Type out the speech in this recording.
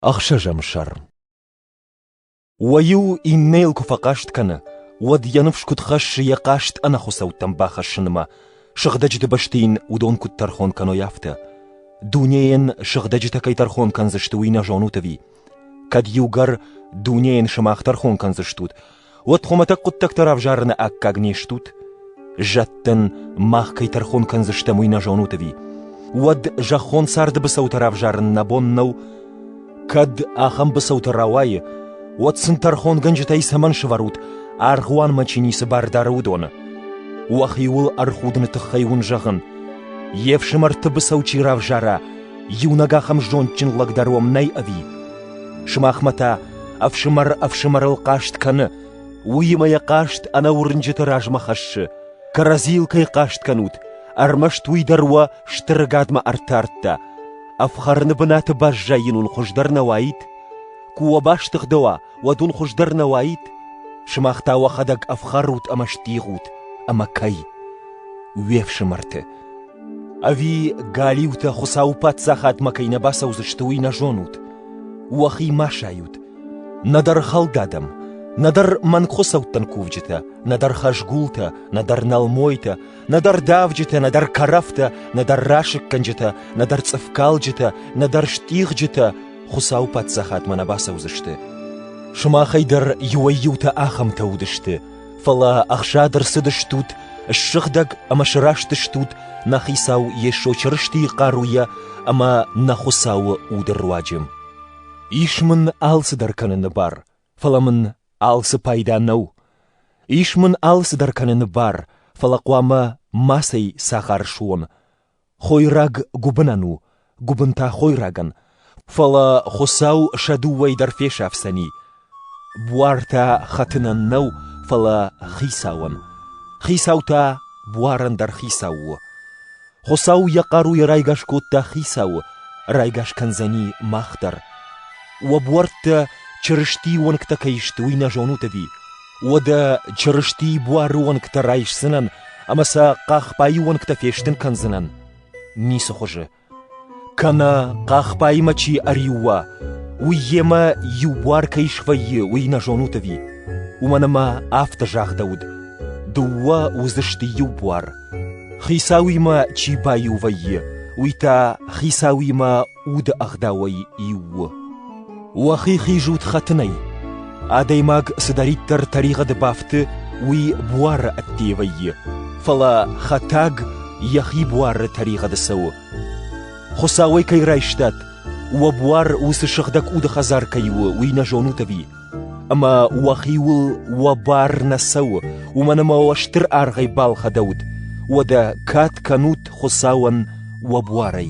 Ӕхсӕзӕм сӕрм Уӕ-иу иннӕйыл куы фӕхъаст кӕны, уӕд йӕ ныфс куыд хӕссы йӕ хъаст ӕнӕхуыцӕуттӕм бахӕссынмӕ, сыгъдӕджыты бӕсты йын уыдон куыд тӕрхон кӕной, афтӕ. Дунейӕн сыгъдӕджытӕ кӕй тӕрхон кӕндзысты, уый нӕ зонут ӕви? Кӕд иугӕр дунейӕн сымах тӕрхон кӕндзыстут, уӕд хуымӕтӕг хъуыддӕгтӕ равзарыны аккаг не стут? Зӕдтӕн мах кӕй тӕрхон кӕндзыстӕм, уый нӕ зонут ӕви? Уӕд зӕххон царды быцӕутӕ равзарын нӕ бон нӕу? Кӕд ахӕм быцӕутӕ рауайы, уӕд сын тӕрхонгӕнджытӕй цӕмӕн сӕвӕрут, аргъуанмӕ чи ницы бар дары, уыдоны? Уӕхиуыл ӕрхудыны тыххӕй уын зӕгъын, йе фсымӕрты быцӕу чи равзара, иунӕг ахӕм зондджын лӕг дӕр уӕм нӕй ӕви? Сымахмӕ та ӕфсымӕр ӕфсымӕрыл хъаст кӕны, уыимӕ йӕ хъаст ӕнӕ уырнджыты размӕ хӕссы. Кӕрӕдзийыл кӕй хъаст кӕнут, ӕрмӕст уый дӕр уӕ стыры гадмӕ ӕртардта. Ӕфхӕрыны бынаты баззайын уын хуыздӕр нӕ уаид? Куы уӕ бастыгъдӕуа, уӕд уын хуыздӕр нӕ уаид? Сымах та уӕхӕдӕг ӕфхӕрут ӕмӕ стигъут, ӕмӕ кӕй? Уе фсымӕрты, Ӕви галиутӕ Хуыцауы паддзахадмӕ кӕй нӕ бацӕудзысты, уый нӕ зонут? Уӕхи ма сайут. нӕдӕр хӕлдадӕм, нӕдӕр мӕнгхуыцӕуттӕн кувджытӕ, нӕдӕр хӕзгултӕ, нӕдӕр нӕлмойтӕ, нӕдӕр давджытӕ, нӕдӕр кӕрӕфтӕ, нӕдӕр расыггӕнджытӕ, нӕдӕр цъыфкалджытӕ, нӕдӕр стъигъджытӕ Хуыцауы паддзахадмӕ нӕ бацӕудзысты. Сымахӕй дӕр иуӕй-иутӕ ахӕмтӕ уыдысты, Фӕлӕ ӕхсад ӕрцыдыстут, ссыгъдӕг ӕмӕ сырӕзтыстут нӕ Хицау Йесо Чырыстийы хъаруйӕ ӕмӕ нӕ Хуыцауы уды руаджы. Ис мын алцыдӕр кӕныны бар, фӕлӕ мын алцы пайда нӕу. Ис мын алцыдӕр кӕныны бар, фӕлӕ хъуамӕ мацӕй цӕхӕр суон. Хойраг гуыбынӕн у, гуыбын та хойрагӕн, фӕлӕ Хуыцау сӕ дыууӕй дӕр фесафдзӕни. Буар та хӕтынӕн нӕу, фӕлӕ хицауӕн. Хицау та буарӕн дӕр хицау у. Хуыцау йӕ хъаруйӕ райгас кодта хицауы, райгас кӕндзӕни мах дӕр. Уӕ буӕрттӕ Чырыстийы уӕнгтӕ кӕй сты, уый нӕ зонут ӕви? Уӕдӕ Чырыстийы буары уӕнгтӕ райсдзынӕн ӕмӕ сӕ хъахбайы уӕнгтӕ фестын кӕндзынӕн? Ницы хуызы. Кӕнӕ хъахбаймӕ чи ӕриуа, уый йемӕ иу буар кӕй свӕййы, уый нӕ зонут ӕви? Уымӕн ӕмӕ афтӕ загъдӕуыд: дыууӕ уыдзысты иу буар. Хицауимӕ чи баиу вӕййы, уый та Хицауимӕ Уды ӕгъдауӕй иу у. Уӕхи хизут хӕтынӕй. Адӕймаг цыдӕриддӕр тӕригъӕды бафты, уый буары ӕдде вӕййы, фӕлӕ хӕтӕг йӕхи буары тӕригъӕды цӕуы. Хуыцауӕй кӕй райстат, уӕ буар уыцы сыгъдӕг уды хӕдзар кӕй у, уый нӕ зонут ӕви? Ӕмӕ уӕхиуыл уӕ бар нӕ цӕуы, уымӕн ӕмӕ уӕ стыр аргъӕй балхӕдӕут, уӕдӕ кад кӕнут Хуыцауӕн уӕ буарӕй.